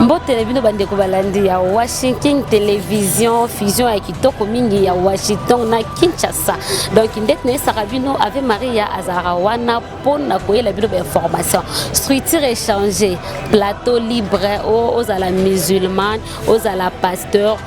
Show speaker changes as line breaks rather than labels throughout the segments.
mbotele bino bandeko balandi ya washington television fusion ya kitoko mingi ya washington na kinshasa donc ndeti nayesaka bino ave maria azalaka wana mpo na koyela bino bainformation structure échange plateau libre ozala musulman ozala pasteur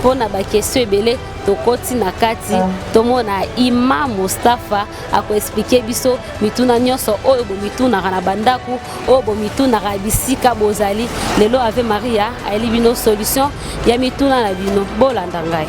mpo na bakestion ebele tokoti na kati ah. tomona ima mustafa akoexplike biso mituna nyonso oyo bomitunaka na bandako oyo bomitunaka bisika bozali lelo ave maria ayeli bino solution ya mituna na bino bolanda ngai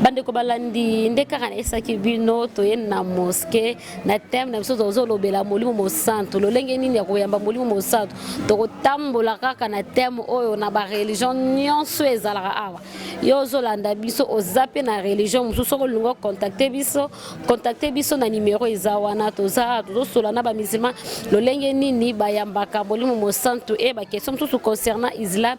bandeko balandi nde kaka nayesaki bino toye na moske na teme na biso tozolobela molimo mosantu lolenge nini ya koyamba molimo mosantu tokotambola kaka na teme oyo na bareligion nyonso ezalaka awa yo ozolanda biso oza mpe na religion mosusu soki olingi ocontacte biso contacte biso na nimero eza wana toza tozosola na bamusulman lolenge nini bayambaka molimo mosantu e bakestion mosusu concernant islam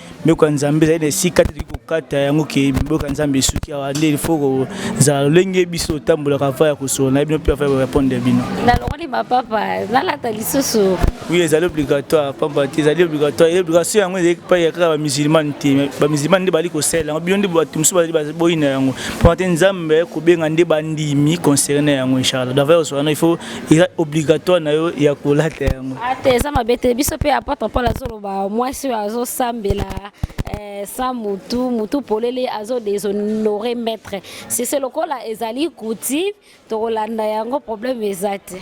mibeko ya nzambe ezali na esika te toki kokata yango ke mibeko ya nzambe esuki awa nde ilfo kozala lolenge biso otambolaka ava ya kosolo na bino mpe ava ya korepondre ya bino nalongoli mapapa
nalata lisusu oui ezali
obligatoire pamba te ezali obligatoire obligation yango ezali epai ya kaka bamusulmane te bamusulmane nde bazali kosalela yango bino nde bato mosusu bazali boyina yango pamba te nzambe aye kobenga nde bandimi concerne yango inchallah dava ya kosolo yango il faut eza obligatoire na yo ya kolata yango ah, te eza mabe te
biso mpe apatre paul azoloba mwasi oyo azosambela eh, sa mutu mutu polele azodeshonore maître sese lokola ezali coutive tokolanda yango problème eza te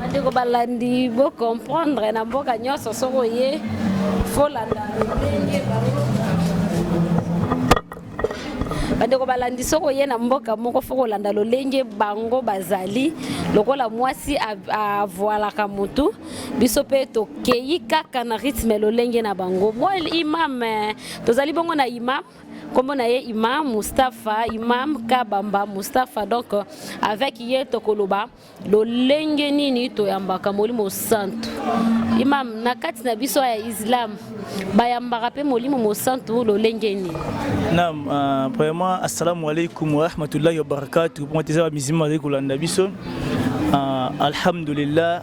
bandeko balandi bocomprendre na mboka nyonso soki oye folanda ndenge bandeko balandi soki oye na mboka moko fo kolanda lolenge bango bazali lokola mwasi avoalaka motu biso mpe tokei kaka na rythme lolenge na bango mwa imam eh, tozali bongo na imam nkombo na ye imam mustapha imam kabamba mustapha donc euh, avec ye tokoloba lolenge nini toyambaka molimo santu imam na kati na biso ya islam bayambaka mpe molimo mosantu lolenge nini nam uh,
premièrement assalamu alaikum warahmatullahi wabarakatu mpo eza bamizima bazali kolanda biso uh, alhamdulillah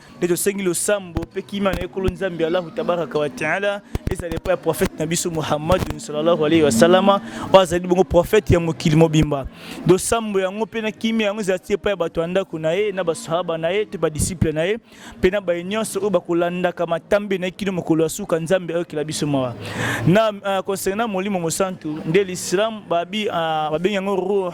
nde tosengi losambo mpe kimia na ekolo nzambe allahu tabaraka wa taala ezala epai ya profete na biso muhammadun salallahu alaihi wasalama oyo azali bongo profete ya mokili mobimba losambo yango mpe na kimia yango ezala ti epai ya bato ya ndako na ye na basahaba na ye to badisiple na ye mpe na baye nyonso oyo bakolandaka matambe na ye kino mokolo ya suka nzambe ayokela biso mawa na uh, concernant molimo mosantu nde l'islam babi uh, babengi yango ruh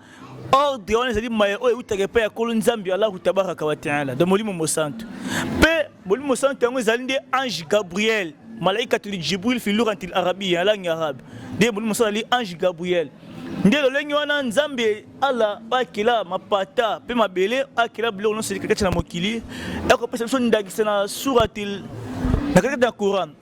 ordre wana ezali maye oyo eutaka epai ya kolo nzambe allahu tabaraka wa taala do molimo mosantu mpe molimo mosantu yango ezali nde ange gabriel malaikatuli jibril fi lurantil arabi ya langue arabe nde molimo mosantu azali ange gabriel nde lolenge wana nzambe ala akela mapata mpe mabele akela biloko nyonso kati na mokili ekopesa biso ndakisa na suratil na katikati ya coran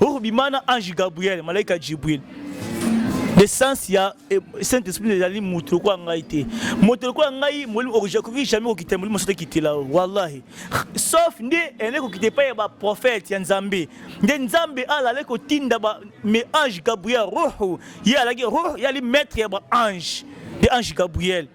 Oko bima na ange Gabriel, malaika Jibril. L'essence ya eh, Saint-Esprit ezali moto lokola ngai te. Moto lokola ngai molimo okoki jamais kokita molimo sote kitela wallahi. Sauf nde ene kokita epai ya ba prophète ya Nzambe. Nde Nzambe alale kotinda ba me ange Gabriel roho. Ye alaki roho yali maître ya ba ange. De ange Gabriel.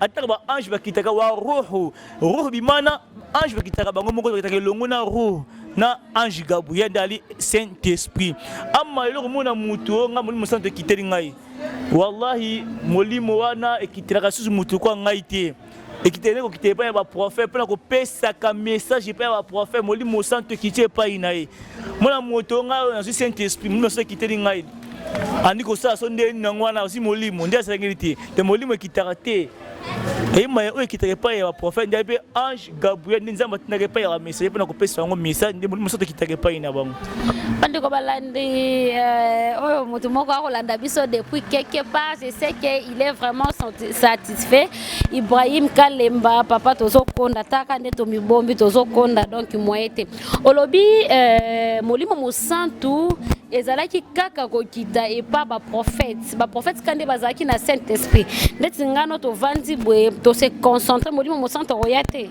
ataka ba ange bakitaka wa ruhu ruhu bimana ange bakitaka bango moko bakitaka elongo na ruhu na ange gabriel nde ali saint esprit ama eloko mona motu oyo ngai molimo santo ekiteli ngai wallahi molimo wana ekitelaka susu motu kwa ngai te ekiteli nde kokita epai ya baprofete mpo na kopesaka message epai ya baprofete molimo santo ekiti epai na ye mona moto ngai oyo nazwi saint esprit molimo santo ekiteli ngai andi kosala so nde nango wana osi molimo nde asengeli te te molimo ekitaka te eyemaya oyo ekitaka epai ya baprofete nde mpe ange gabriel nde nzambe atindaka epai ya bamesage mpo na kopesa yango message nde molimo soto ekitaka epai na bango bandeko balandi
eh, oyo moto moko akolanda biso depuis quelque part je sais que il est vraiment satisfait ibrahim kalemba papa tozokonda taka nde tomibombi tozokonda donc moye te Olobi euh, Molimo Mosantu ezalaki kaka kokita epa baprofete baprofete ka nde bazalaki na saint esprit ndeti ngano tovandi boye tose concentre molimo mosantu akoya te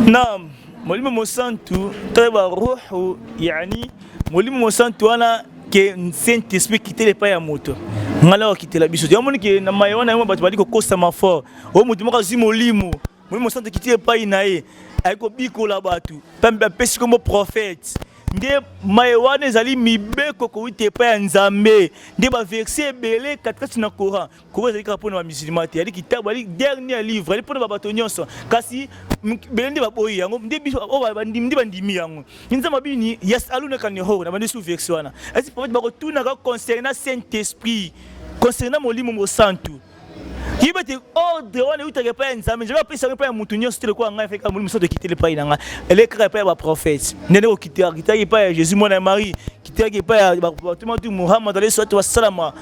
nam
molimo mosantu to baruhu yani molimo mosantu wana ke saint esprit kitela epai ya moto ngai nayokitela biso te omoni ke na maye wana yango bato bali kokosama fort oyo moto moko azwi molimo Molimo Mosantu ekiti epai na ye, ayei kobikola bato, mpambe bapesi nkombo profete nde maye wana ezali mibeko kowuta epai ya nzambe nde baverse ebele katikati na coran coran ezali kaka mpo na bamusulma te ali kitabu ali dernier livre ali mpo na babato nyonso kasi bele nde baboyi yango nde biso oyo bandimi nde bandimi yango nzambe abini yasalunaka nehoro na bandi su verse wana esi profete bakotunaka concernant saint esprit concernant molimo mosantu yebi ete ordre wana eutaka epai ya nzambe nzambe apesa yango epai ya moto nyonso te lokola ngai efeka molimo soto ekiteli epai na ngai eleki kaka epai ya baprofete ndende kokitaki epai ya jésus mwana ya marie kitaki epai ya batomatu mohamad alayhi salatu wasalama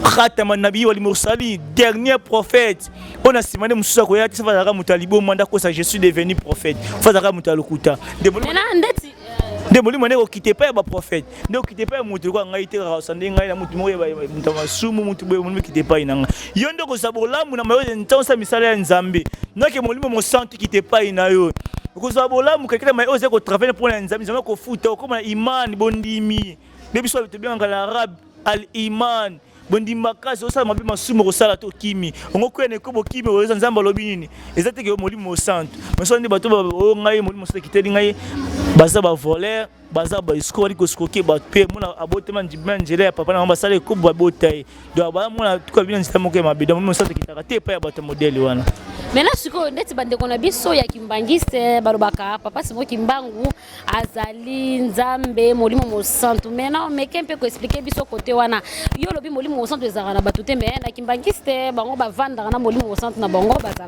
khatama nabii wal mursali dernier prophète oyo na nsima nde mosusu akoya te soki azalaka moto ya liboma nde akosa je suis devenu prophète fo azalaka moto ya lokuta nde molimo nde ekokita epai ya baprofete nde okita epai ya moto lokola ngai te kaka osande ngai na moto moko ya moto ya masumu moto boye omoni okita epai na ngai yo nde okozwa bolamu na mayoze ntango osala misala ya nzambe noke molimo mosantu ekita epai na yo okozwa bolamu kakita mai oyo ozali kotravele mpo na nzambe nzambe akofuta okoma na imani bondimi nde biso tobengaka na arabe al imani bondimi makasi osala mabe masumu okosala to okimi ongokwea na ekobo okimi oyoza nzambe alobi nini eza te ke molimo mosantu masola nde bato oyo oh, ngai molimo mosantu ekiteli ngai baza bavolere baza ba escroc bali ko escroquer bato mpe mona abotama na nzela ya papa na bango basala ekobo babota ye donc baya mona tuka bino nzela moko ya mabe donc mosala ekitaka te epai ya bato ya modele wana maintenant sikoyo
ndeti bandeko na biso ya kimbangiste balobaka papa simo kimbangu azali nzambe molimo mosantu maintenant meke mpe koexplike biso kote wana yo olobi molimo mosantu ezalaka na bato te me na kimbangiste bango bavandaka na molimo mosantu na bango bazala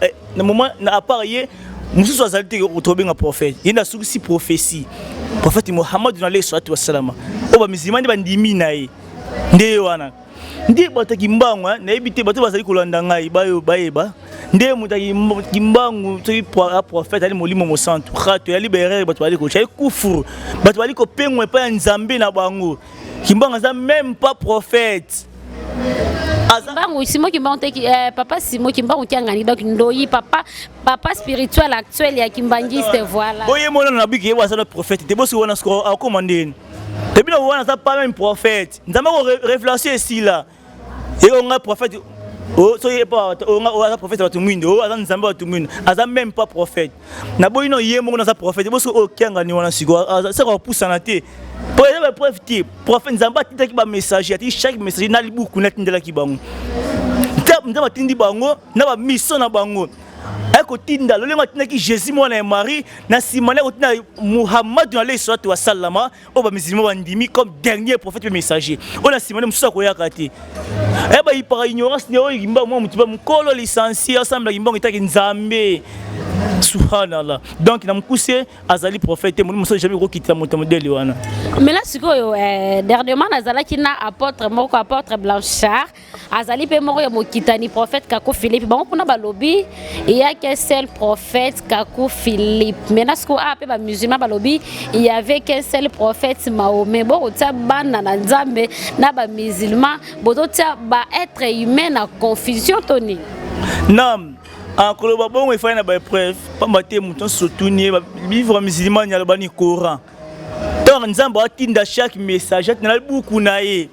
eh, na moment na apart ye mosusu azali te tobenga prophète ye nde asukisi prophétie prophète mohamadu na alayhi salatu wasalama oyo bamizilima nde bandimi na ye nde ye wana nde bato ya kimbangu eh, nayebi te bato bazali kolanda ngai bayo bayeba nde moto kimbangu soki prophète ali molimo mosantu rato eyali baerere bato bazali kotyai kufuru bato bazali kopengwa epai ya nzambe na bango kimbangu aza meme pas prophète
kimbangu simo kimbangu te eh, papa simo kimbangu kiangani donc ndoyi papa papa spirituel actuel ya kimbangiste voilà boye mona na biki ye
wasala prophète te bosi wana siko akoma ah, ndeni te bino wana za pas même prophète nzambe ko révélation esila eko nga prophète oh, soki ye mpo oh, oh, aza prophète ya bato mwindo oyo aza nzambe ya bato mwindo aza même pas prophète na boyi no ye moko naza prophète boso oyo kianga ni wana siko saka kopusana te po eza ba preuve te prophète nzambe atindaki ba messager atindi chaque messager na libuku natindelaki bango nzambe atindi bango na ba mission na bango aye kotinda lolenge atindaki jésus mwana ya marie na nsima nde akotinda muhammadu na leyi salatu wasalama oyo bamisilima bandimi comme dernier prophète mpe messager oyo na nsima nde mosusu akoyaka te eh, bayipaka ignorance nde oyo kimbangu mwa motiba mokolo lisansi asambela kimbangu etaki nzambe subhanallah donc na mokuse azali prophète molimo mosusu jamais kokitisa moto ya modele wana mela sikoyo
eh, dernièrement nazalaki na apôtre moko apôtre blanchard azali mpe moko ya mokitani prophète kaku philippe bango kuna balobi eyake seul prophète kaku philippe maintenant sikoyo aa ah, mpe bamusulman balobi yave ke seul prophète mahome bokotia bana na nzambe na bamusulman bozotia baêtre humain na confusion to nini nam
akoloba ah, bongo efali na baepreuve mpamba te moto nyonso otuni ye bivre musulman alobani coran ntango nzambe atinda chaque message atinda buku na ye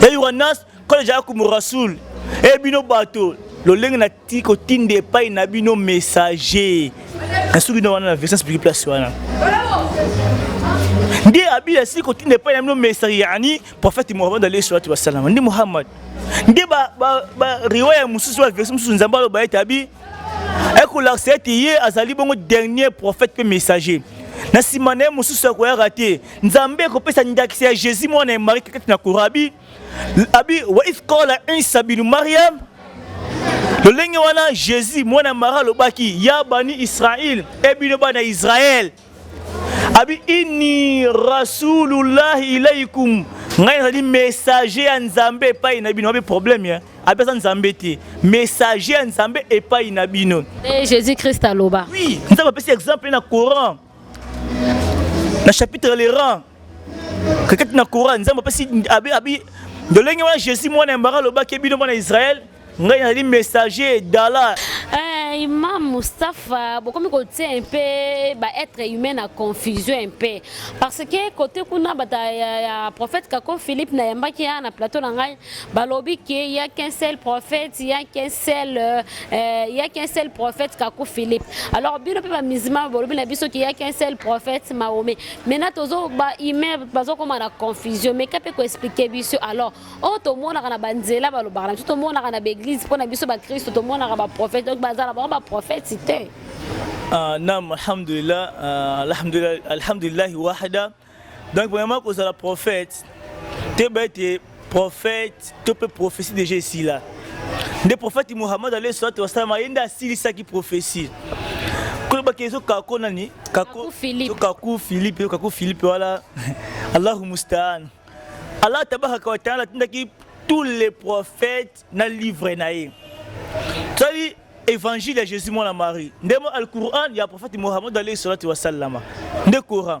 Hey, Yohanas, quand les gens comme Rasoul, et bino bateau, lolenge na ti kotinda epai na bino messager na soki na wana na version spirituelle place wana nde abili asili kotinda epai na bino messager yani prophète Muhammad alayhi salatu wassalam nde Muhammad nde ba ba ba riwaya mosusu ba version mosusu nzambe aloba ete abi ekolakisa ete ye azali bongo dernier prophète mpe messager na nsima na ye mosusu akoyaka te nzambe akopesa ndakisa ya jésus mwana ya marie kati na kora abi abi wa if kola isa binu mariam lolenge wana jésus mwana ya marie alobaki ya bani israel ebino bana israel abi inni rasulullahi ilaikum ngai nazali messager ya nzambe epai na bino abe problème ya abi aza nzambe te messager ya nzambe epai na bino eh, jésus christ
aloba oui nzambe apesi
exemple na coran na chapitre le rang kakati na coran nzambe apesi abi abi ndolenge wana jésus mwana ya mbara alobaki bino mwana ya israele ngai nazali messager dala eh, imam
mustapha bokomi kotia un peu baêtre humain na confusion un peu parce que côté kuna bata ya, ya prophète kako philippe nayambaki ya na plateau na ngai balobi ke ya qu'un seul prophète ya qu'un seul euh, euh, ya qu'un seul prophète kaku philippe alors bino mpe bamizima bolobi na biso ke ya qu'un seul prophète maome maintenant tozo bahumain bazokoma na confusion meka mpe koexplike biso alors oyo oh, tomonaka na banzela balobaka na biso tomonaka na baeglise mpo na biso bakristo tomonaka baprophète donc bazala bango baprophète te ah, nam
alhamdulillah ah, alhamdulillahi wahda Donc vraiment kozala prophète toyeba ete prophète to mpe prophétie déjà esila nde prophète Muhammad alayhi salatu wasalam ye nde asilisaki prophétie kolobaki ezo kako nani kako kako Philippe kako Philippe wala Allahu mustaan Allah tabaraka wa taala atindaki tous les prophètes na livre na ye tozali évangile ya Jésus mwana Marie nde mo al-Qur'an ya prophète Muhammad alayhi salatu wasallama nde Coran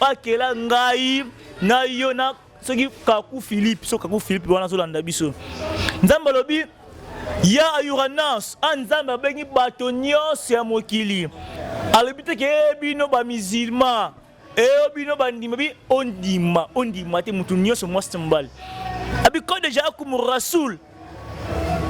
bakela ngai na yo na soki kaku philippe so kaku philippe wana azolanda biso nzambe alobi ya ayura nance a ah, nzambe abengi bato nyonso ya mokili alobi te ke eh, bino bamizilma eyo eh, bino bandima bi ondima ondima te moto nyonso mwasi mobali abiko deja akumu rasul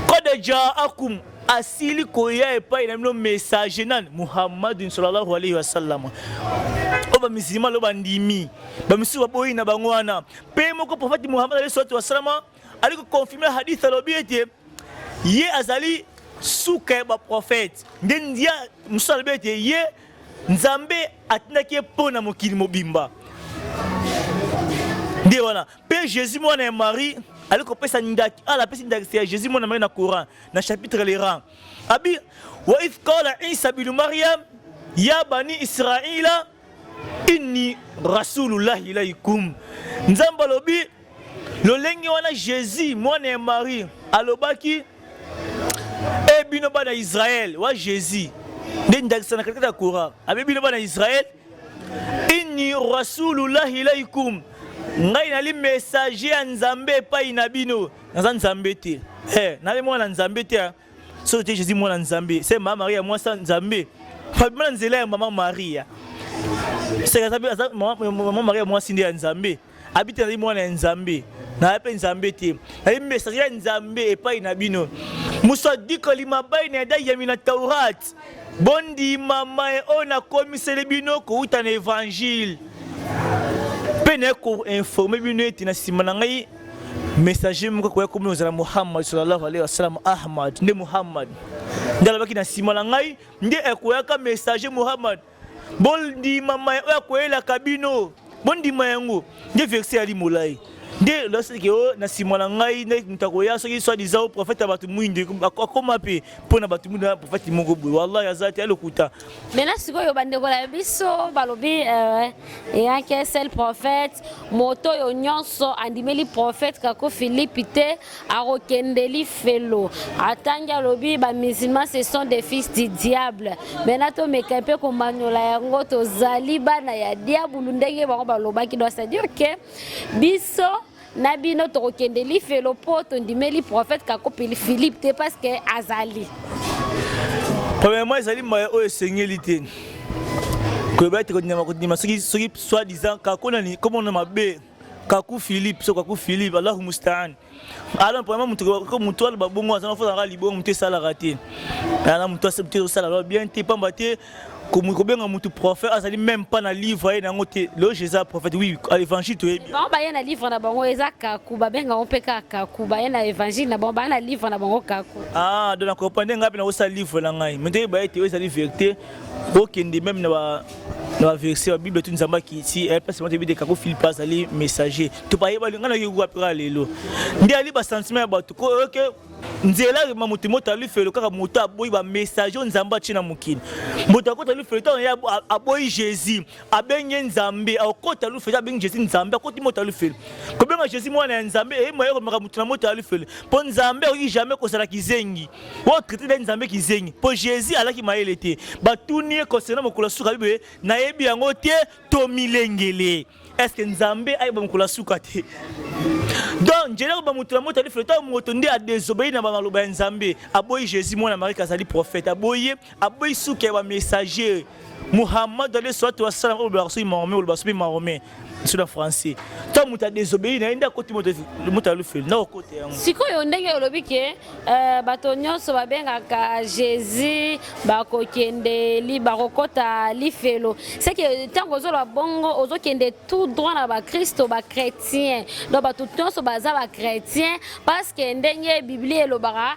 kada jaakum asili koya epai na bino messager nani muhammadin sallallahu alaihi wasallam oyo bamisilima lelo bandimi bamisusu baboyi na bango wana mpe moko profete muhammad alaihi salatu wasalama ali kokonfirme hadith alobi ete ye azali suka ya baprofete nde ndia mosusu alobi ete ye nzambe atindaki ye mpo na mokili mobimba nde wana Pe Jésus mwana ya Marie ali kopesa ndaki ala apesi ndakisa ya Jésus mwana Marie na Coran na chapitre le rang abi wa if qala Isa bin Maryam ya bani Israila inni rasulullahi ilaikum Nzambe alobi lolenge wana Jésus mwana ya Marie alobaki e bino bana Israël wa Jésus nde ndakisa na katikati ya Coran abi bino bana Israël inni rasulullahi ilaikum ngai nali messager ya nzambe epai na bino naza nzambe te eh, nali mwana nzambe te ah. soki te jésus mwana nzambe se mama maria mwasa nzambe pabima na nzela ya mama maria seka mama maria mwasi nde ya nzambe abi te nazali mwana ya nzambe nazali mpe nzambe te nazali message ya nzambe epai na bino mosadikoli mabai na yadayami na taurat bondima maye oyo nakomiseli bino kouta na evangile mpe naye koinforme bino ete na nsima na ngai messager moko akoya komi ozala muhammad sallallahu alaihi wasallam ahmad nde muhammad nde alobaki na nsima na ngai nde ekoyaka messager muhammad bondima maye oyo akoyelaka bino bondima yango nde verse yali molai nde loseke o oh, na nsima na ngai nde moto akoya soki swadisa o oh, profete ya bato mwindu akoma mpe mpo na bato mwindu na profete moko boye wallahi aza te ya lokuta maintenant sikoyo
bandeko na biso balobi eh, eyake sel profete moto oyo nyonso andimeli profete kako filipi te akokende lifelo atangi alobi ba musulmans ce sont des fils du diable maintenant tomeka mpe komanyola yango tozali bana ya diabulu ndenge bango balobaki donc c'est dire que biso na bino tokokende lifelo mpo tondimeli prophète kakopeli philippe te parce que azali
premièrement ezali mbaya oyo esengeli te koyeba ete kondima kondima soki soki soit disant kakonani komona mabe kaku philippe so kaku philippe allahu mustaan ala mpona moto moto aloba bongo aza nafozalaka libongo moto esalaka te ana moto asala loba bien te mpamba te kobenga moto prophète azali même pas na livre aye nango te lelo je eza prophète oui évangile toyebi bango baye na livre na bango
eza kaku babenga yango mpe kaka kaku baye na évangile na bango baye na livre na bango kaku ah donc na comprendre
ngai mpe nakosala livre na ngai mais nde baye te oyo ezali vérité bokende même na ba na baverse ya bible tu nzambe akiti eh, place moto ebideka ko filipe azali messager to bayebali ngai nayoki wapi kaka lelo nde ali basentiment ya bato ko oyoke nzela ma moto moto ali felo kaka moto aboyi bamessager oyo nzambe atie na mokili moto akota ali felo ntango ye aboyi jésus abenge nzambe akokota ali felo abengi jésus nzambe akoti moto ali felo kobenga jésus mwana ya nzambe eyemayoko makambo moto na moto ali felo mpo nzambe akoki jamais kozala kizengi oyo traite nde nzambe kizengi mpo jésus alaki mayele te batuni ye concernant mokolo ya suka biboye nayebi yango te tomilengele estce nzambe ayeba mokolo ya suka te donc njeli akoba moto na moto alifelo ntango moto nde adesobei na bamaloba ya nzambe aboyi jésus mwana marike azali prophète aboyi ye aboyi suka ya bamessager muhammad alayhi salatu wasalam oyo olobaka soki mahomet olobaka soki mahomet biso na français ntango moto adesobei na ye nde akoti moto alufeli na okota yango sikoyo ndenge olobi
ke euh, bato nyonso babengaka jésus bakokende bakokota lifelo seke ntango ozoloba bongo ozokende tout droit na bakristo bachrétien donc bato nyonso baza bachrétien parce que ndenge biblia elobaka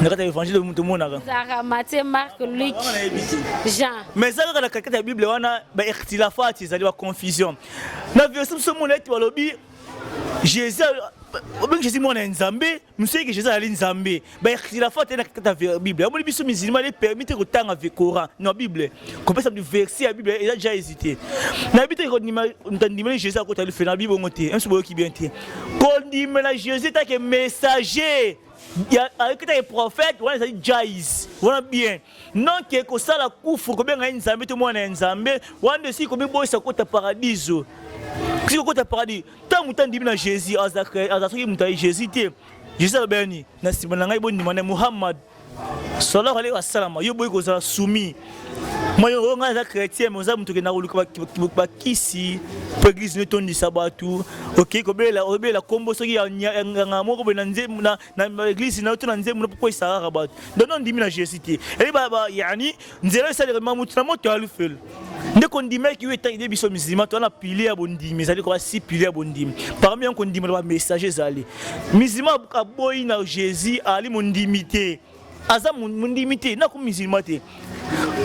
na kati ya évangile moto omonaka zara matie
marc luc jean mais eza kaka na
kakete ya bible wana baertilafati ezali baconfusion na verse mosusu omona ete balobi jésus obengi jésus mwana ya nzambe mosusu yeke jésus azali nzambe baertilafati na kakete ya bible amoni biso musulman e permis te kotanga coran na bible kopesa mtu verse ya bible eza déjà hésité nayebi te kondimeli jésus akotali fe na bibongo te mso boyoki bien te kondimela jésus etake messager ayokitaki prophète wana ezali jais wana bien noke kosala kufru kobenga ye nzambe to mwana ya nzambe wana nde esili komiboyisa kota paradiso esili kokota paradis ntango moto andimi na jésus aza soki moto aye jésus te jésus alobelani na nsima na ngai bondima na muhammad sallallahu alaihi wasallam yo boyi kozala soumis Moi, je suis chrétien, mais je suis chrétien, je suis chrétien, mpo eglise netondisa bato okei kobelela obelela nkombo soki ya nganga moko boye na eglise na yo to na nzembo na mpo esalaka bato donc ondimi na jésus te eyeba yani nzela esaleka mamutu na moto ya lufelo nde kondimaki yo etangi nde biso musulman toza na pile ya bondimi ezali koya si pile ya bondimi parmi yango kondimela bamessage ezali musulman aboyi na jésus ali mondimi te aza mondimi te nako musulman te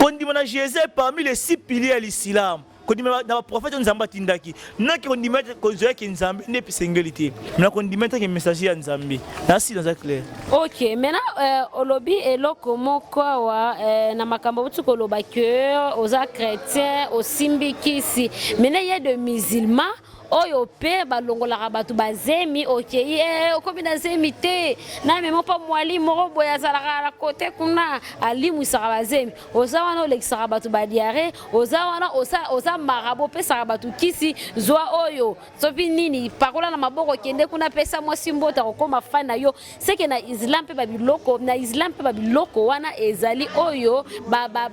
kondima na jesus parmi les six piliers ya lisilamu kondima na baprofete oyo nzambe atindaki naki kondima ete kozwa yeke nzambe nde esengeli te na kondima ete ke messager ya nzambe nasi naza clair ok maintenant
euh, olobi eloko moko awa euh, na makambo boti koloba ke oza chrétien osimbi kisi maintenant ye de musulman oyo pe balongolaka bato bazemi okei eh, okomi na zemi te na memo mpo mwali moko boye azalaka na kote kuna alimwisaka bazemi oza wana olekisaka bato badiare oza wana oza marabo opesaka bato kisi zwa oyo sopi nini pakola na maboko kende kuna pesa mwasi mboto akokoma fani na yo seke na islam mpe babiloko na islam mpe babiloko wana ezali oyo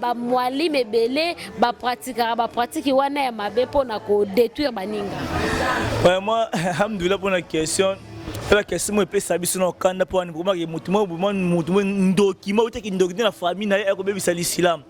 bamwalime ba, ba ebele bapratikaka bapratiki wana ya mabe mpo na kodétruire baninga vraiment
alhamdulillah mpo na question ela question moko epesa biso na okanda mpo wani bokomaki motu moko ndoki moko oteki ndoki nde na famille na ye akobebisa lisilamu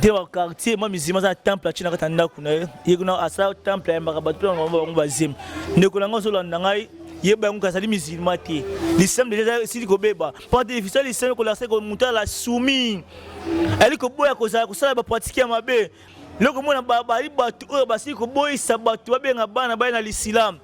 te ba quartier mwa mizima aza na temple atyina kati ya ndako na ye ye kuna asala temple ayambaka bato mpe bango bango bazemi ndeko na ngai ozolanda ngai yeba yango azali mizilma te lisano deja esili kobeba mpo te efisa lisano kolakisa eko moto ala sumi ayali koboya kozala kosala bapratike ya mabe loko mona bazali bato oyo basili koboyisa bato babenga bana baye na lisilamu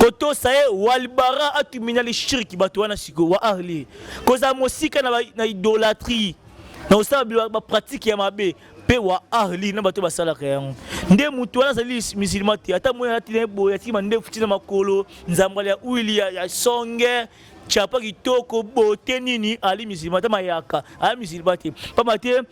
kotosa ye walbara atumina lishirki bato wana sikoyo wa ahli kozala mosika na, na idolatrie na kosala bapratike ya mabe mpe wa ahli na bato basalaka yango nde moto wana azali musulma te ata moi alati na ye boye atiki mandefu ntina makolo nzambala ya uili ya, ya songe chapa kitoko bote nini ali musulma ata mayaka ali musulma te mpamba te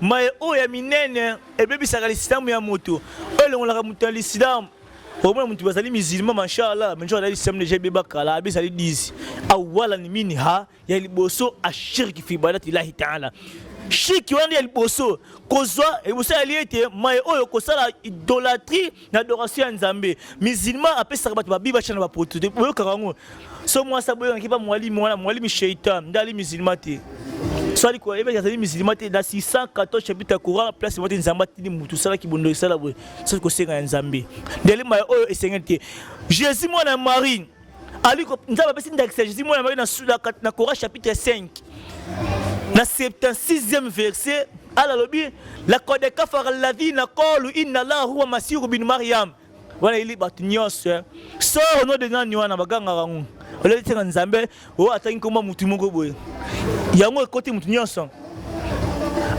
Maye oyo ya minene ebebisaka lisilamu ya moto, oyo elongolaka moto ya lisilamu. Omona moto bazali musulman mashallah, mais nzoka na lisilamu deja ebeba kala, abe ezali 10 awalan minha ya liboso ashirki fi ibadati llahi taala shirki wana ya liboso kozwa liboso yali ete maye oyo kosala idolatrie na adoration ya nzambe musulman apesaka bato babiba cana bapoto te boyokaka yango so mwasi aboyokaki mpa mwalimi wana mwalimi sheitan nde ali musulman te so ali koyebaki azali musulman te na 614 chapitre ya coran place moko te nzambe atindi motu osalaki bondo esala boye soki kosenga ya nzambe ndeli maya oyo esengeli te jésus mwana ya marie aliko nzambe apesi ndakisa jésus mwana maye na cora chapitre 5 na 76e verset ala alobi lakode kafara ladina kolu inna llah huwa masihu bin mariam wana eli bato nyonso eh. soro no de nani wana bagangaka ngo oleli ntina nzambe oyo atangi nkomba motu moko boye yango ekoti motu nyonso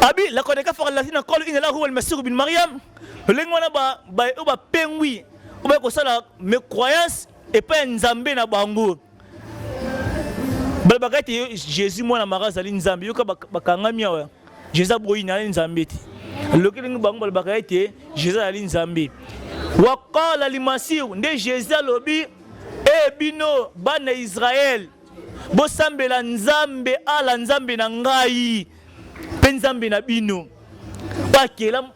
abi lakode kafara ladina kolu inna llah huwa almasihu bin mariam lolenge wana baye oyo bapengwi obe kosala me croyance epai ya nzambe na bango balobaka ete jésus mwana mara azali nzambe yoka bakangami awa jésus aboyi na ye nzambe te loki ndenge bango balobaka ete jésus azali nzambe wakala limasihu nde jésus alobi e bino bana ya israele bosambela nzambe ala nzambe na ngai mpe nzambe na bino oyo akela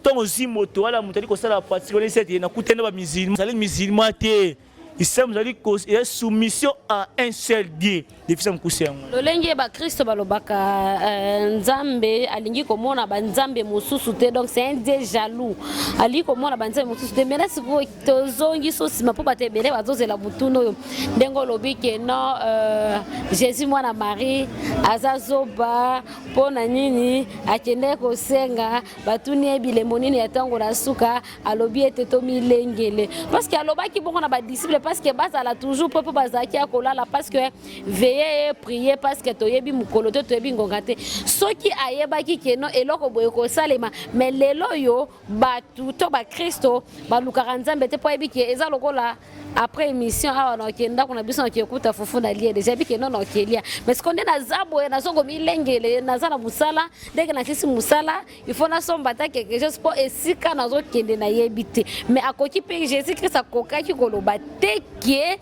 Ntango ozwi moto wana moto ali kosala pratique wana esi ete nakutani na bamizilma ezali mizilma te islam ezali ya soumission à un seul dieu defisa mokuse yango lolenge bakristo
balobaka euh, nzambe alingi komona banzambe mosusu te donc c'est un dieu jaloux alingi komona banzambe mosusu te mena sikoyo tozongi so nsima mpo bato ebele bazozela motuna oyo ndenge olobi ke non euh, jésus mwana marie aza zoba mpo na nini akendeki kosenga batuni ye bilembo nini ya ntango na suka alobi ete tomilengele parceke alobaki bongo na badisiple parceke bazala toujours mpo mpo bazalaki ya kolala parceke veye ye prie parceke toyebi mokolo te toyebi ngonga te soki ayebaki keno eloko boye kosalema me lelo oyo bato to bakristo balukaka nzambe te mpo ayebi ke eza lokola après émission awa naoke ndako na biso naoke kuta fufu na lie deja bike no naoke lia mais sikonde naza boye naza komilengele naza na mosala ndenge nasilisi mosala ifo nasomba ata quelque chose mpo esika nazokende nayebi te mais akoki mpe jésus christ akokaki koloba te kie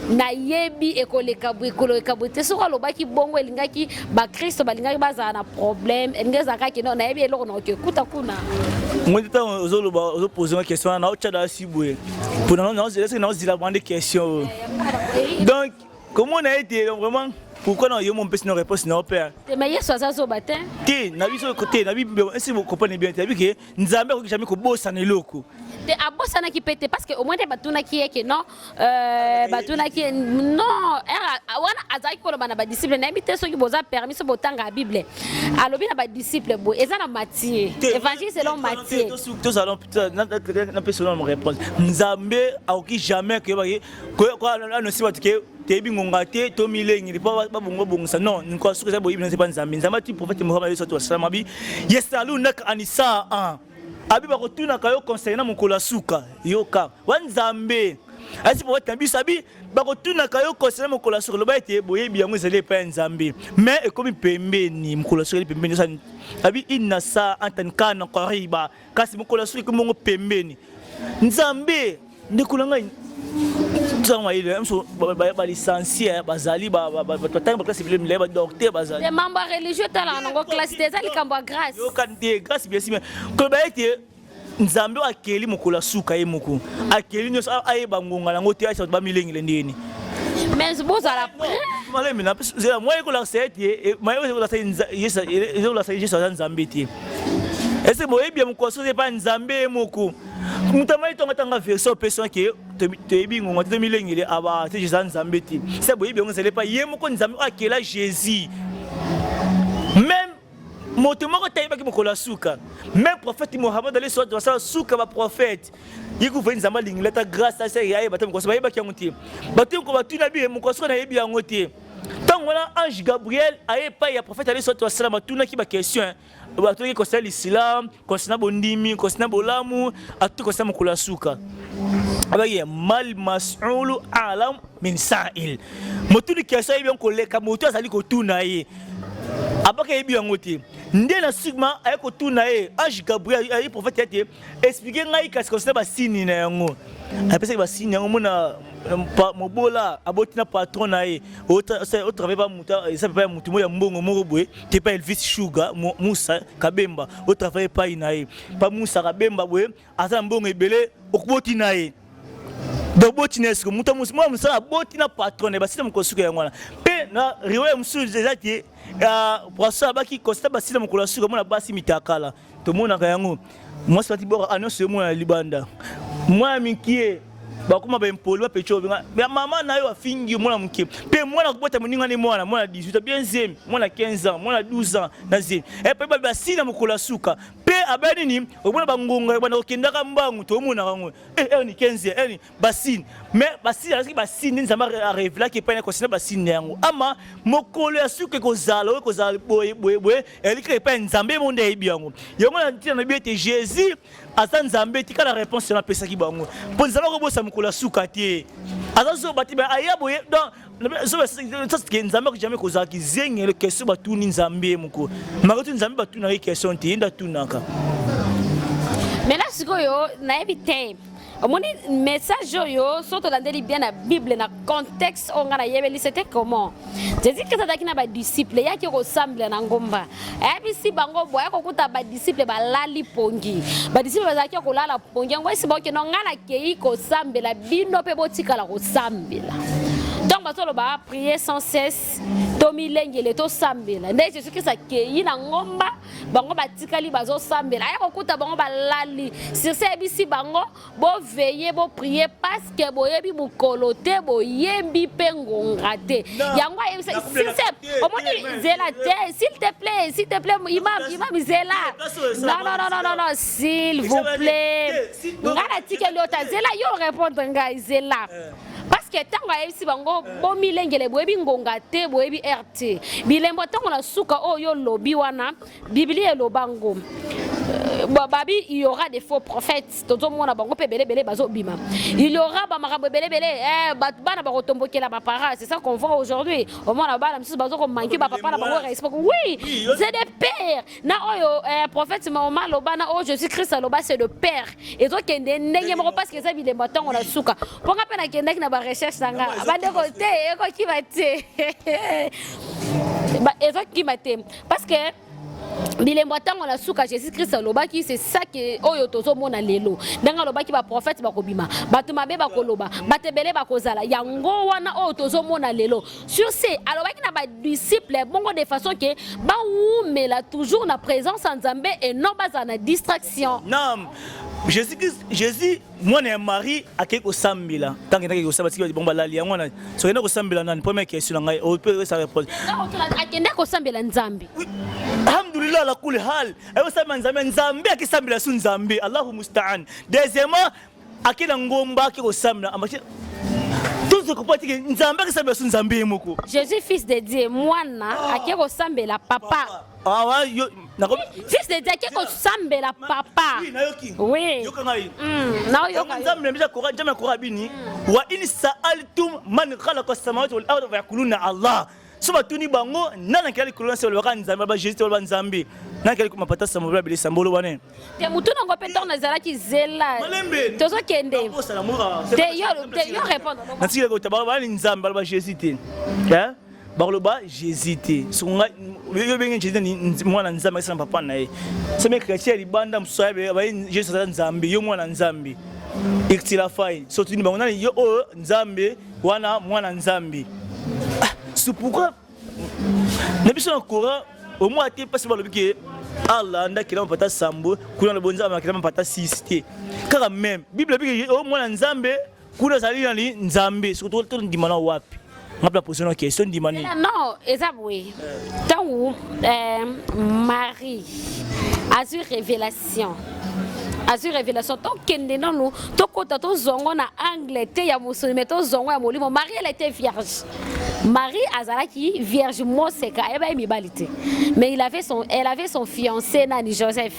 nayebi ekoleka boye ekoleka boye te soki alobaki bongo elingaki bakristo balingaki bazala na problème elingi ezalaka kino nayebi eloko naoke kuta kuna moi ntango
ozoloba ozopose nga question wana naotya dasi boye mpo naozeleseke naozila bande question donc komona ete vraiment pourquoi na yo mon pesi na réponse na opère te mais yesu aza zoba
te te na biso
te na bible esi vous comprenez bien te abi ke nzambe akoki jamais kobosana eloko te abosanaki
mpe te parce que au moins te batunaki ye ke non euh, batunaki ye non wana azalaki koloba na badisciple nayebi te soki boza permis so botanga bible alobi na badisciple boye eza na matie évangile selon matie tozalon
napesa na réponse nzambe akoki jamais koyebaki anosi bato ke toyebi ngonga te to milengeli mpo babongo bongisa non nkoa soki eza boyebi naze mpa nzambe nzambe ati profete mohamad yesu atu asala mabi yesalu naka anisa an abi bakotunaka yo conseil na mokolo ya suka yoka wa nzambe asi profete na biso abi bakotunaka yo conseil na mokolo ya suka loba ete boyebi yango ezali epai ya nzambe mais ekomi pembeni mokolo ya suka eli pembeni abi inna sa antan kana koriba kasi mokolo ya soki mongo pembeni nzambe ndeko na ngai ntango mayele biso balicencie bazali batangi baklase ebele milai badokter bazali membre religieux etalaka
nango classe te eza likambo ya grace yokani te grace
biesi me koloba ete nzambe oyo akeli mokolo ya suka ye moko akeli nyonso ayeba ngonga yango te ayesa bato bamilengele ndeni mais
bozala malembe na
zela moye kolakisa ete maye ezokolakisa yesu aza nzambe te ese boyebi ya mokwaso oza epai nzambe ye moko moto amai tongatanga version opesi wana ke toyebi ngonga te tomilengele aba ah, te eza nzambe te se boyebi yango ezali epai ye moko nzambe oyo akela jésus meme moto moko te ayebaki mokolo ya suka meme prophète mohamad ale soit basala suka baprophète ye kufa nzambe alingela ata grâce ase ayeba te mokwaso bayebaki yango te bato yoko batuna biye mokwaso nayebi yango te ntango wana ange gabriel aye epai ya profete aleso to asalama atunaki baquestion atulaki kosala lisilam kosina bondimi kosina bolamu atuti kosina mokolo ya suka abaki mal masulu alam min sail motuni kestion ayebi yango koleka motu azali kotuna ye abaki ayebi yango te nde na sigma aye kotuna ye ange gabriel aye profete ete Expliquer ngai kasi concernant ba signes na yango. Apesaki ba signes yango mona euh, pa- mobola aboti na patron na ye otravaille pa moto eza epai ya moto moko ya mbongo moko boye te pa elvis shuga Mu- musa kabemba otravaille epai na ye pa musa kabemba boye aza na mbongo ebele okoboti na ye donc boti na ye siko moto mos- mwana mosala aboti na patron na ye basila mokolo suka yango wana mpe na riwaya mosusu eza te poisson abaki constat basila mokolo ya suka mona basi mitakala tomonaka yango mwasi batibwaka anonso yo mwana ya libanda mwana mikie bakoma baimpoli bapeco ya mama na yo afingi mwana moke mpe mwana kobota moninga nde mwana mwana 18 bien zemi mwana 15 ans mwana 12 ans na zemi epe babi basi na mokolo ya suka mpe abaya nini omona bangonga ebanda kokendaka mbangu tomonaka yango eh, erni 15 erni basine mais basine azalaki basine nde nzambe arevelaki epai na konsina basine na yango ama mokolo ya suka ekozala oyo ekozala boye boye boye ezali kaka epai ya nzambe ye monde ayebi yango yango na ntina na biyo ete jésus aza nzambe tika na réponse wana apesaki bango mpo nzambe akobosana mokolo ya suka te aza zoba te aya boye donc sasike nzambe ako jamai kozala kizengele question batuni nzambe ye moko makotu nzambe batunaka ye question te ye nde atunaka
mais là sikoyo nayebi te omoni message oyo so tolandeli bien na bible na contexte oyo ngai nayebeli c'était comment jésus krist azalaki na badisciple eyaki kosambela na ngomba ayebisi bango boye kokuta badisiple balali pongi badisiple bazalaki ya kolala pongi yango esi bakokenda ngai nakei kosambela bino mpe botikala kosambela ntango bazoloba prier sans cesse tomilengele tosambela nde jésus krist akei na ngomba bango batikali bazosambela aya kokuta bango balali sirse ayebisi bango Bo veiller, bo prier parce que boyebi mukolo te, boyembi pe ngonga te. Yango ayebisa s'il te omoni zela te, s'il te plaît, s'il te plaît imam imam zela. Non non non non non non, s'il vous plaît. Ngana tikeli ota zela yo répondre ngai zela. Euh. parce que ntango ayebisi bango euh. bomilengele boyebi ngonga te boyebi rt bilembo ntango na suka oyo olobi wana Biblia eloba ngo euh, babi il y aura des faux prophètes tozomona bango mpe ebelebele bazobima il y aura bamakambo ebelebele eh, bato bana bakotombokela bapara c'est ça qu'on voit aujourd'hui omona bana mosusu bazokomanke bapapa na bango respect oui c'est des pères na oyo eh, prophète maoma aloba na oyo jésus christ aloba c'est de père ezokende ndenge moko parce que eza bilembo ntango na suka mpo nga mpe nakendaki na barecherche na nga bandeko te ekokima te ezokima te parce que bilembo ya ntango na suka jésus christ alobaki se sake oyo tozomona lelo ndenge alobaki baprofete bakobima bato mabe bakoloba bato ebele bakozala yango wana oyo tozomona lelo sur ce alobaki na badisciple bongo de façon ke bawumela toujours na présence ya nzambe et non bazala na distraction non
jésus christ jésus mwana ya marie akei kosambela ntango endaki kosamba tiki bongo balali yango wana soki enda kosambela nani première question na ngai ope esa repose akenda
kosambela nzambe alhamdulillah
ala kuli hal ayosambela nzambe nzambe akisambela su nzambe allahu mustaan deuxièmement ake na ngomba ake kosambela tozo comprendre tike nzambe akisambela su nzambe ye moko jésus fils de dieu
mwana ake kosambela papa awa ah, yo nakomi fils de dieu ko sambela papa oui nayoki oui yoka ngai mm na yoka nzambe mbija kora jambe
kora bini mm. wa in sa'altum man khalaqa samawati wal ardi wa yaquluna allah so batuni bango nani akela likolo na se olobaka nzambe aba jésus te oloba nzambe nani akela likolo mapata sambo bla bilisa mbolo wana te motu nango mpe
ntango nazalaki zela tozokende te yo répondre natikela kota bana
nzambe aloba jésus te bakoloba jésus te soko ngai yo benge jésus ni mwana nzambe akisa na papa na ye seme chrétien ya libanda mosusu ayebi baye jésus aza nzambe yo mwana nzambe iktila fai sotuni bango nani yo oyo oh, nzambe wana mwana nzambe ah, c'est pourquoi na biso na coran omoi ate mpasi balobi ke allah nde akelama pata sambo kuna na bonzambe akelama pata sisi te kaka meme bible ebiki o oh, mwana nzambe Kuna ezali nani Nzambe soki tondima na wapi nga mpe naposi na question ndima nini non eza boye
ntango euh, marie azwi révélation azwi révélation tokende nanu tokɔta tozwa ngo na angle te ya mosuni me tozwa ngo ya molimo marie elle était vierge marie azalaki vierge moseka ayeba ye mibali te mais il avait son, elle avait son fiancé nani joseph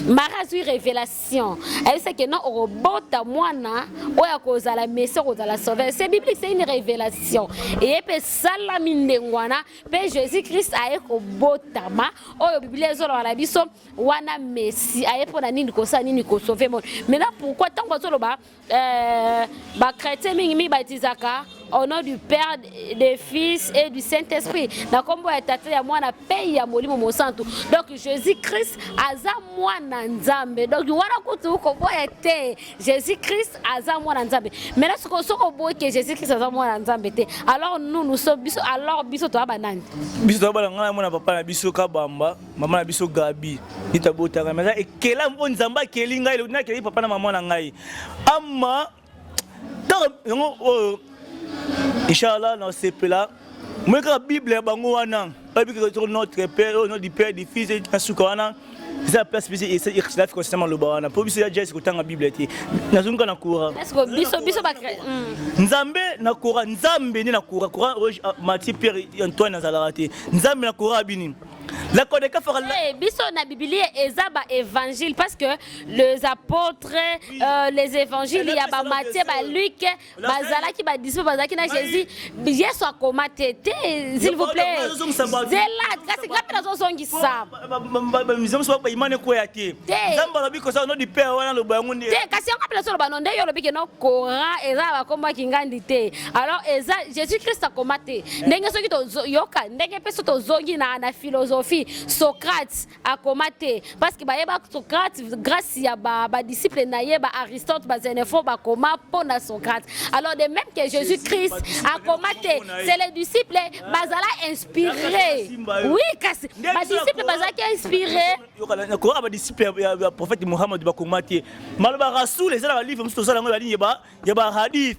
marie azwi révélation nation ayebisa ke non okobota mwana oyo akozala messi okozala sauveur se biblique c'est une révélation eye mpe esalami ndenge wana mpe jésus christ aye kobotama oyo biblia ezoloba na biso wana messi aye mpo na nini kosala nini kosauve mona maintenant pourquoi ntango azoloba Euh, ba chrétien mingi mibatisaka au nom du père des fils et du saint esprit na nkombo ya tata ya mwana mpe ya molimo mosantu donc jésus christ aza mwana nzambe donc wana kutu koboya te jésus christ aza mwana nzambe maintenant soko soki oboyi ke jésus christ aza mwana nzambe te alors nous nous sommes biso alors biso toya banani biso toya bana ngai mwana papa
na biso kabamba mama na biso gabi nde tabotaka me aza ekela mpo nzambe akeli ngai elobi nakeli papa na mama na ngai ama ntango yango oyo oh, inshallah nasepela moi kaka bible ya bango wana bayebi kaka toko notre père oyo oh, notre père du fils na suka wana eza place biso ixilaf kosina maloba wana mpo biso ya jesi kotanga bible te nazongi kaka na kora hmm. nzambe na kora nzambe nde na kora kora ah, mati pierre antoine azalaka te nzambe na kora abini La Kodekafa hey, biso na Biblia
eza ba évangile parce que les apôtres euh, les évangiles ya ba Matthieu ba Luc bazalaki ba disciples bazalaki na Jésus Yesu akoma te te s'il vous plaît zela kasi ngapi nazo zongisa mizamu soba
imane ko ya te nzambe alobi ko sa no di père wana loba yango nde te kasi yango pe nazo loba no
nde yo lobi ke no Coran eza ba komba kingandi te alors eza jésus christ akoma te ndenge soki toyoka ndenge mpe so tozongi na, na philosophie socrate akoma te parce que bayeba socrate grâce ya badisciple ba na ye ba aristote bazenefo bakoma mpo na socrate alors de même que jésus christ akoma te c'est les disciples bazala inspiré oui kasi badisciple bazalaki inspiré koyoka
badisciple ya prophète mohamad bakoma te maloba rasoul eza na balivre mosusu tozala yango ya ligne ya bahadith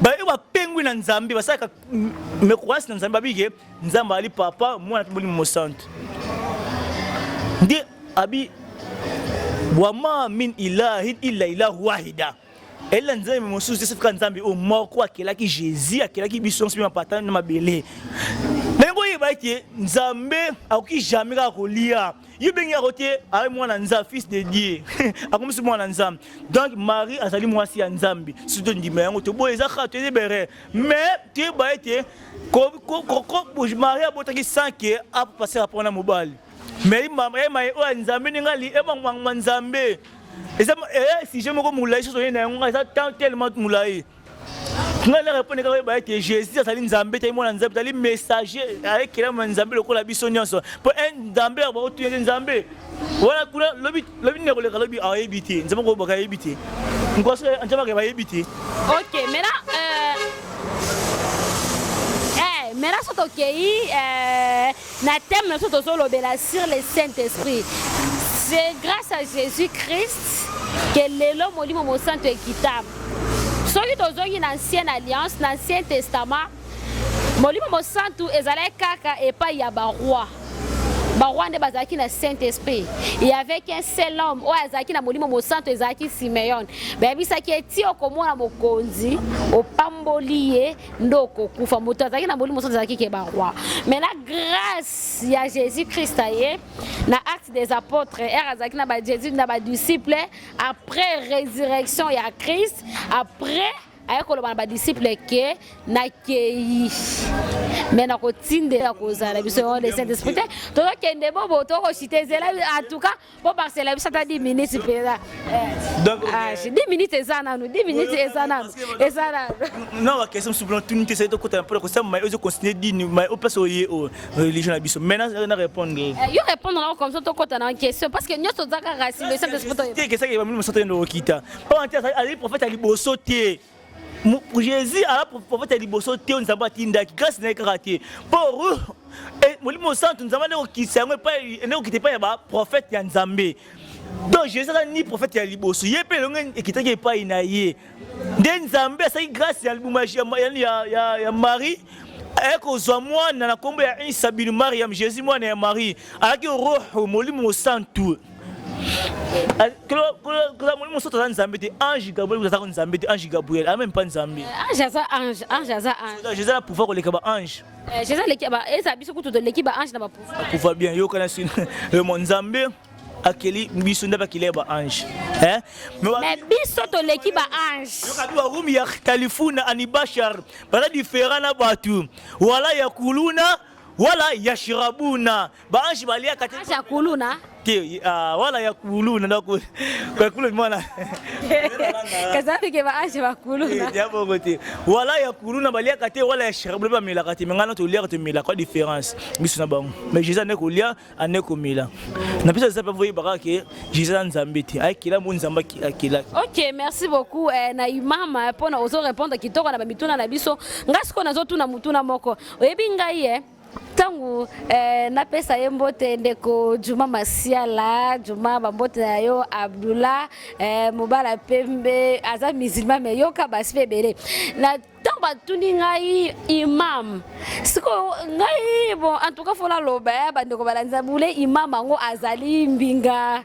baye bapengwi na nzambe basalaka mekoasi na nzambe babike nzambe ali papa mwana mpe molimo mosantu nde abi wama min ilahin illa ilahu wahida elela nzambe mosusu te sefika nzambe oyo moko akelaki jésus akelaki biso nyonso mpe mapata na mabele ndenge oyebaki nzambe akoki jamai kaka kolia ye bengi yango te aye mwana nzambe fils de dieu akomisi mwana nzambe donc marie azali mwasi ya nzambe soki tondima yango toboye eza kaka toyei bere mais toyeba ete marie abotaki sans ke apapase rapport na mobali mais maye oyo ya nzambe ndenge ali emangmangma nzambe eza eh, sujet moko molai soki oyei na yango eza temps tellement molai ngai naka eponi kaka oyeba ete jésus azali nzambe te mwana nzambe azali messager ayekelama na nzambe lokola biso nyonso mpo nzambe ya baotuna ete nzambe wana kuna lobi lobi nini akoleka lobi ayebi te nzambe koyebaka ayebi te nkosi nzambe akeba ayebi te ok mena
euh, eh, mena soki tokei eh, Na thème na biso tozo lobela sur le Saint Esprit. C'est grâce à Jésus Christ que lelo molimo mosanto ekita. Soki tozongi na ancienne alliance, na ancien testament, molimo mosanto ezalaki kaka epai ya ba rois. Ba rois nde bazalaki na Saint Esprit. Il y avait qu'un seul homme oyo azalaki na molimo mosanto ezalaki Simeon. Bayebisaki ye ti okomona mokonzi, opamboli ye nde okokufa moto azalaki na molimo soki azalaki ke baroi mais na grâce ya jésus christ aye na acte des apôtres ere azalaki na bajésus na badisciple après résurrection ya christ après aye koloba na badisciple ke nakei me nakotindela kozala biso yango le saint esprit te tozokende bobo tokosite ezela en tout cas po basela biso ata 10 minutes mpenza eh. donc 10 ah, eh, minutes eza nanu 10 minutes eza nanu eza nanu
na bakestion mosusu mpona tuni te sali tokotana mpona kosala mai ozo continue dini mai opesa oye o religion na biso maintenant na répondre eh, yo répondre nao comme
ça tokota na question parce que nyonso oza kaka simesakesaki bamini mosato yende
okita mpo ante azali prophète ya liboso te jésus aa profeta liboso te oyo nzambe atindaki grâce na ye kaka te mpo ruh eh, molimo santu nzambe ande kokitisa yango epai ende kokita epai ya baprofete ya nzambe donc jésus azali ni profete ya liboso ye mpe elongo ekitaki epai na ye nde nzambe asalaki grâce ya libuma ya marie aye kozwa mwana na nkombo ya isa binu mariam jésus mwana ya marie alaki roho molimo santu koza molimo mosusu aza nzambe te ange gabriel aza ko nzambe te ange gabriel a même pas nzambe eh, ange aza ange ange
aza ange jésus na
pouvoir koleka ba ange eh, jésus aleki ba
eza biso kutu toleki ba ange na ba pouvoir pouvoir bien yokana sino
le mon nzambe akeli biso nde bakeli ba ange eh?
mais biso toleki ba ange yokabi barumi ya
kalifuna anibashar baza diferent na bato wala ya kuluna wala ya shirabuna ba ange baliaka te ange akuluna
te ah,
wala ya kuluna na ko kwa kuluna mwana
kazafi ke ba ange ba kuluna eh, ya bongo te
wala ya kuluna baliaka te wala ya sharab ba melaka te mengana to liaka to mela kwa différence biso na bango mais jesus ne ko lia ane ko mela na biso ça peut voyer baka ke jesus nzambe te ay kila mo nzamba ki akila OK merci
beaucoup eh, na imama pona ozo répondre kitoko na ba mituna na biso ngasko nazo tuna mutuna moko oyebi ngai eh ntango eh, napesa ye mbote ndeko juma masiala juma bambote na yo abdullah eh, mobala pembe aza musulman me yoka basi mpe ebele na ntango batuni ngai imam sikoyo ngai bon en tout cas fona loba ya eh, bandeko balandisa bule imam yango azali mbinga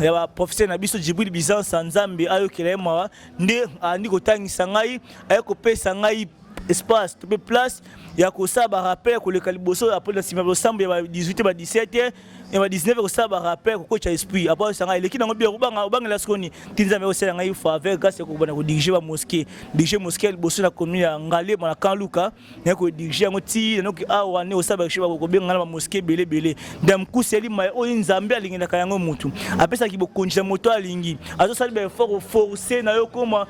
ya ba professeur na biso Djibril Bizansa Nzambe ayokela ye mawa nde andi kotangisa ngai aye kopesa ngai espace to mpe place ya kosala barappel koleka liboso apres na nsima ya losambo ya ba 18 ba 17 ya ba 19 kosala barappel kokotya esprit apres oyesa ngai eleki nango bia kobanga obangela sikoni ti nzambe akosala ngai faveur grâce ya kokobana kodirige bamoske dirige moske ya liboso na commune ya ngalema na kan luka naye kodirige yango ti nanoki awa ne osala bakishe bakobenga ngai na bamoske ebele ebele damkusi yali mai oyo nzambe alingelaka yango motu apesaki bokonzi na moto alingi azosali baeffort oforce na yo okoma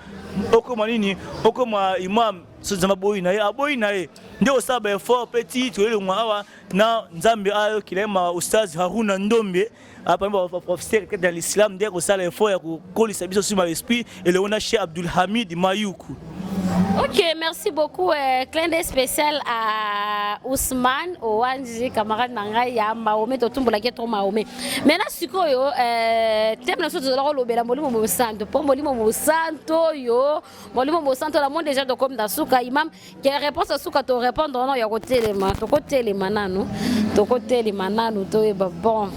okoma nini okoma imam nzambe aboyi na ye aboyi na ye nde osala baeffort mpe ti toyelongwa awa na nzambe ayokela ye ma ustaz haruna ndombe apani ah, baprofesere kati na l'islam nde kosala effort ya kokolisa biso sur baesprit elongo na chez abdulhamid mayuku Ok,
merci beaucoup. Euh, clin d'œil spécial à Ousmane, Owanji, camarade Nangai, à Mahomet, Totumbo, la trop Mahomet. Maintenant, ce que yo, euh, thème na soto zala lobe la molimo mo santo, po molimo mo santo yo, molimo mo santo la monde déjà de comme dasuka imam, ke réponse suka to répondre no ya kotelema tokotelema nanu tokotelema nanu toyeba bon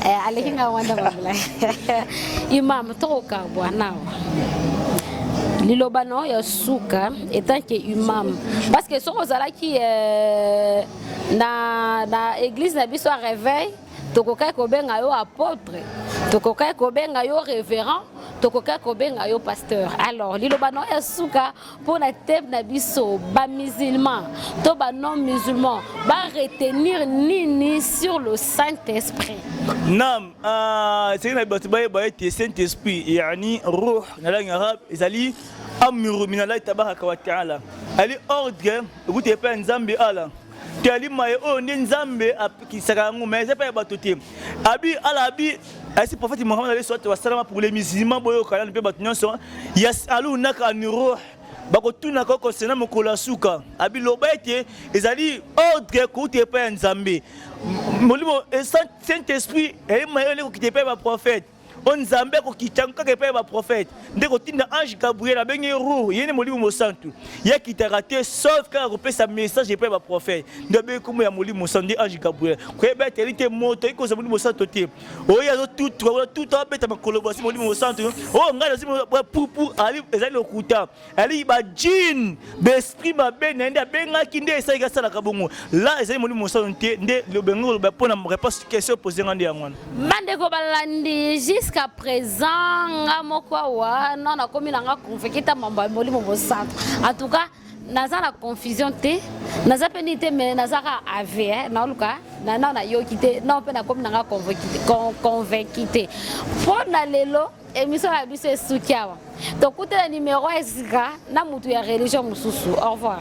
eh, aleki nga wanda mamulai imam tokokabwa nawa liloba na oyo ya suka etant ke imam parce que soki ozalaki eh, na, na église na biso ya réveil tokokaki kobenga yo apotre tokokaki kobenga yo révérend tokokaki kobenga yo pasteur alors liloba na yo ya suka mpo na tebe na biso bamusulman to banon musulman baretenir nini sur le saint esprit nam
ah, esengeli na bato bayeba ete saint esprit yani ruh na langue arabe ezali amuru minalai tabaka wa taala ali ordre ekuti epai ya nzambe ala toyali maye oyo nde nzambe apekisaka yango mai eza mpe ya bato te abi ala abi ayesi prophète mohamad alayhi salatu wasalama pour les musulmans boyoka nanu mpe bato nyonso yasalunaka an ruh bakotunaka yo konsena mokolo ya suka abi loba ete ezali ordre kouta epai ya nzambe molimo saint esprit eyema yo nde kokita epai ya baprophète o nzambe akokita yango kaka epai ya baprofete nde kotinda ange gabriel abengi rur ye nde molimo mosantu ye akitaka te sauf kaka kopesa message epai ya baprofete nde abengi nkombo ya molimo mosantu nde ange gabriel koyeba ete ali te moto ayi kozwa molimo mosantu te oyo azotutuka kuna tutu abeta makolo basi molimo mosantu oyo oh, ngai nazwi pupu ezali lokuta ali ba jean d'esprit mabe na nde abengaki nde esalaki asalaka bongo la ezali molimo mosano te nde lobengi koloba mpo na réponse question pose nga nde yango wana bandeko balandi
jusqu'à présent nga moko awa na nakomi na nga convaincre ta mambo ya molimo mosano en tout cas naza na confusion te naza mpe nini te me nazaka ave eh, naoluka nana nayoki te nao mpe nakomi na nga convaincu te mpo na lelo Emission na biso esuki awa. Tokutela numero ya sika na mutu ya religion mosusu. Au revoir.